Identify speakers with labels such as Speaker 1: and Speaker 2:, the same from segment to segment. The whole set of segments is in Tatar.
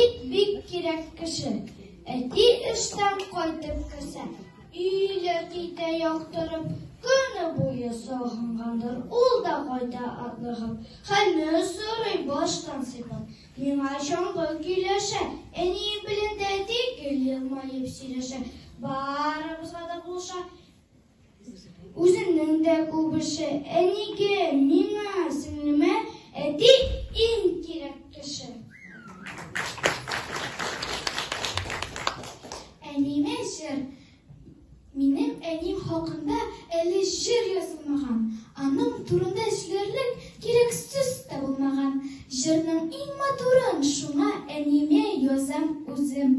Speaker 1: Бик-бик кирәк кеше, әти эштән кайтып керсә, өйле китә яктырып, көне буе сагынгандыр, ул да кайта атлыгып, хәлне сорый баштан сыйпап. Миңа чаңгы көйләшә, әнием белән дә тигел елмаеп сөйләшә, барыбызга да булыша, Үзенең дә күп эше, әнигә, миңа, сеңлемә, әти иң кирәк кеше. Әниемә җыр. Минем әним хакында әле җыр язылмаган, аның турында сөйләрлек кирәк сүз дә булмаган. Җырның иң матурын шуңа әниемә язам үзем.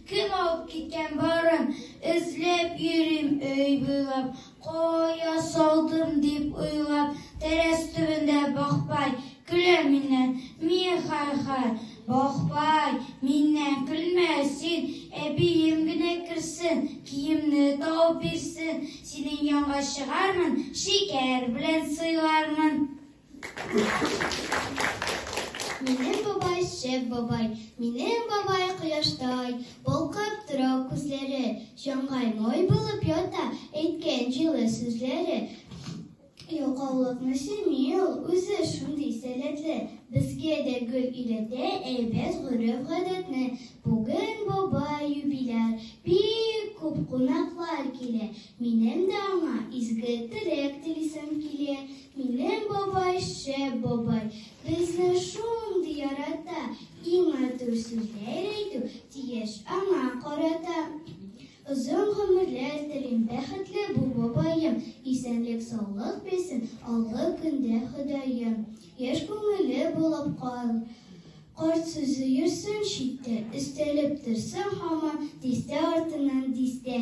Speaker 1: Кем алып киткән барын, эзләп йөрим өй буйлап, Кая салдым дип уйлап, тәрәз төбендә Бахбай көлә миннән, миэ-хай-хай, Бахбай, миннән көлмә син, әбием генә керсен, Киемне табып бирсен, синең янга чыгармын, шикәр белән сыйлармын. Минем бабай шәп бабай, минем бабай кояштай, балкып тора күзләре, җаңгай мой булып ята, әйткән җылы сүзләре. Ялкаулыкны семи ул, үзе шундый сәләтле, безгә дә гөл өйрәтә әйбәт гореф-гадәтне. Бүген бабай юбиляр, бик күп кунаклар килә. Минем дә аңа изге теләк телисем килә. Минем бабай шәп бабай, безне шундый ярата, иң матур сүзләр әйтү тиеш аңа карата. Озын гомерләр телим, бәхетле бу бабаем, исәнлек саулык бирсен алгы көндә Ходаем. Яшь күңеле булып кал, карт сүзе йөрсен читтә, өстәлеп торсын һаман дистә артыннан дистә.